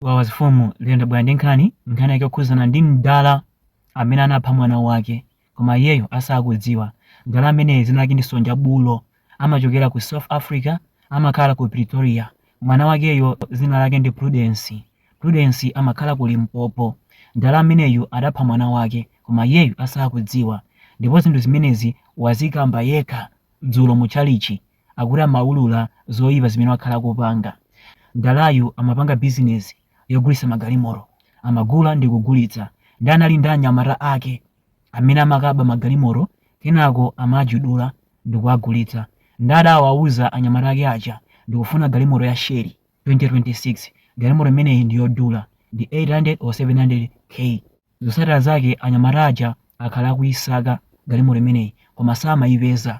wawa zifumu liye ndabwera ndi nkhani nkhani yake yokhuzana ndi mdala amene anapha mwana wake koma iyeyo asakudziwa mdala ameneyu dzina lake ndi sonja bulo amachokera ku south africa amakhala ku pretoria mwana wakeyo dzina lake ndi prudence prudence amakhala ku limpopo mdala ameneyu adapha mwana wake koma iyeyu asakudziwa ndipo zinthu zimenezi wazikamba yekha dzulo mu tchalitchi akuti amaulula zoipa zimene wakhala akupanga. Mdalayu amapanga bizinezi yogulitsa magalimoto. Amagula ndi kugulitsa ndi anali ndi anyamata ake amene amakaba magalimoto kenako amajudula ndikuwagulitsa. Nde adawauza anyamata ake aja ndikufuna galimoto ya Shelly 2026. Galimoto imeneyi ndi yodula ndi 800 or 700 K. Zotsatira zake anyamata aja akhala akuisaka galimoto imeneyi koma samaipeza.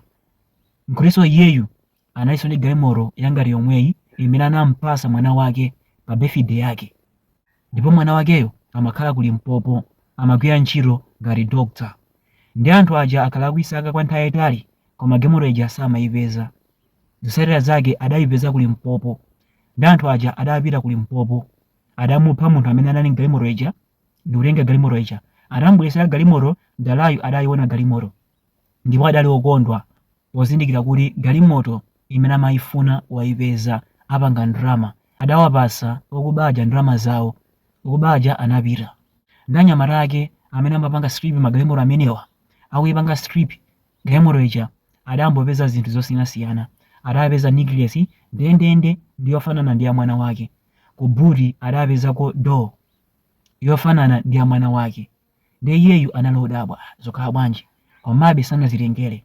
Mkhristu iyeyu analinso ndi galimoto yangati yomweyi imene anam'patsa mwana wake pa birthday yake. Ndipo mwana wakeyo amakhala ku Limpopo, amagwira ntchito ngati doctor. Ndiye anthu aja akhala akuisaka kwa nthawi yaitali koma galimoto ija samaipeza. Zotsatira zake adaipeza ku Limpopo. Ndiye anthu aja adapita ku Limpopo. Adamupha munthu amene anali m'galimoto ija ndikutenga galimoto ija. Atamubweretsera galimoto, mdalayu adaiona galimoto. ndipo adali okondwa pozindikira kuti galimoto imene amayifuna wayipeza apanga ndalama. Adawapatsa okuba aja ndalama zawo. Okuba aja anapita. Ndi anyamata ake amene amapanga strip magalimoto amenewa. Akuyipanga strip galimoto ija adangopeza zinthu zosiyanasiyana. Adapeza necklace ndendende ndi yofanana ndi ya mwana wake. Ku boot adapezako doll yofanana ndi ya mwana wake. ndiye iyeyu anali odabwa zokhala bwanji komabe sanazitengere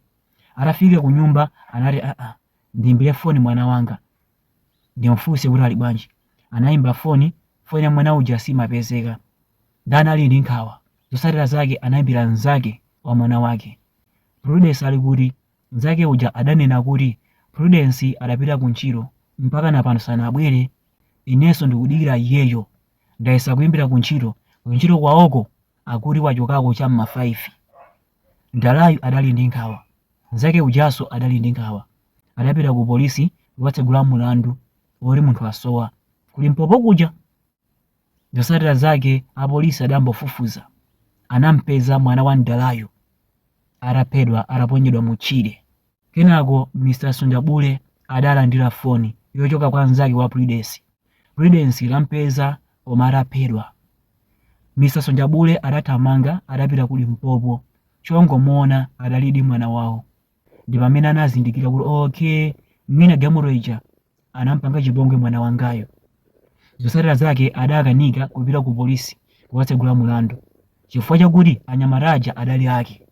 atafika ku nyumba anati aa ndiimbire foni mwana wanga ndimfunse kuti ali bwanji anayimba foni foni ya mwana uja simapezeka ndiye anali ndi nkhawa zotsatira zake anayimbira mnzake wa mwana wake prudence ali kuti mnzake uja adanena kuti prudence adapita ku ntchito mpaka napano sanabwere inenso ndikudikira iyeyo ndayesa kuimbira ku ntchito kuntchito kwawoko akuti wachokako cha mma 5 mdalayu adali ndi nkhawa mnzake ujanso adali ndi nkhawa adapita ku polisi kukatsegula mulandu woti munthu asowa ku limpopo kuja zotsatira zake apolisi adayambofufuza anampeza mwana wa mdalayo ataphedwa ataponyedwa mu tchire Kenako Mr Sonja Bulo adalandira foni yochoka kwa mnzake wa Prudence. Prudence tampeza koma ataphedwa. Mr Sonja Bulo adathamanga adapita ku Limpopo. Chongomuona adalidi mwana wawo. Ndi pamene anazindikira kuti okay, mwina galimoto ija anampanga chipongwe mwana wangayo. Zotsatira zake adakanika kupita ku polisi kukatsegula mulandu chifukwa chakuti anyamata aja adali ake,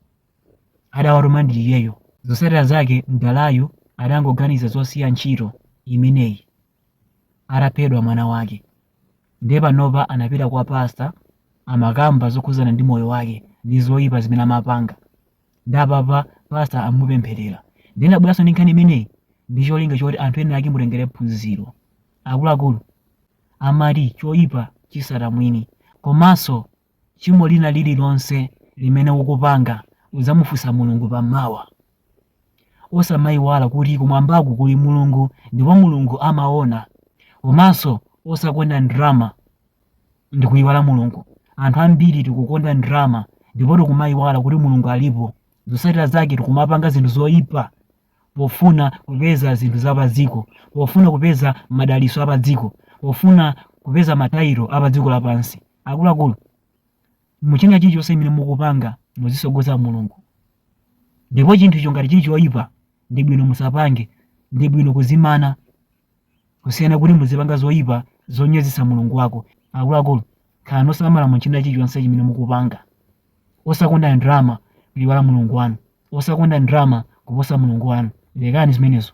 adawatuma ndi iyeyo. Zotsatira zake mdalayu adangoganiza zosiya ntchito imeneyi ataphedwa mwana wake, ndiye panopa anapita kwa pastor amakamba zokhudzana ndi moyo wake ndi zoipa zimene amapanga. ndiye apapa pastor amupempherera ndiye ndinabweranso ndi nkhani imeneyi ndi cholinga choti anthu ena ake mutengere phunziro akuluakulu amati choyipa chitsata mwini komanso chimo lina lililonse limene ukupanga udzamufunsa mulungu pa mawa osamayiwala kuti kumwambaku kuli mulungu ndipo mulungu amaona komanso osakonda ndrama ndi kuyiwala mulungu anthu ambiri tikukonda ndrama ndipo tikumayiwala kuti mulungu alipo zotsatira zake tikumapanga zinthu zoyipa pofuna kupeza zinthu za padziko pofuna kupeza madalitso a padziko pofuna kupeza matayiro a padziko lapansi akuluakulu muchina chilichonse chimene mukupanga muzitsogoza mulungu ndipo chinthu icho ngati chili choyipa ndi bwino musapange ndi bwino kuzimana kusiyana kuti muzipanga zoyipa zonyozetsa mulungu wako akuluakulu khalani osamala mu china chilichonse chimene mukupanga osakonda ndrama kuyiwala mulungu wanu osakonda ndrama kuposa mulungu wanu lekani zimenezo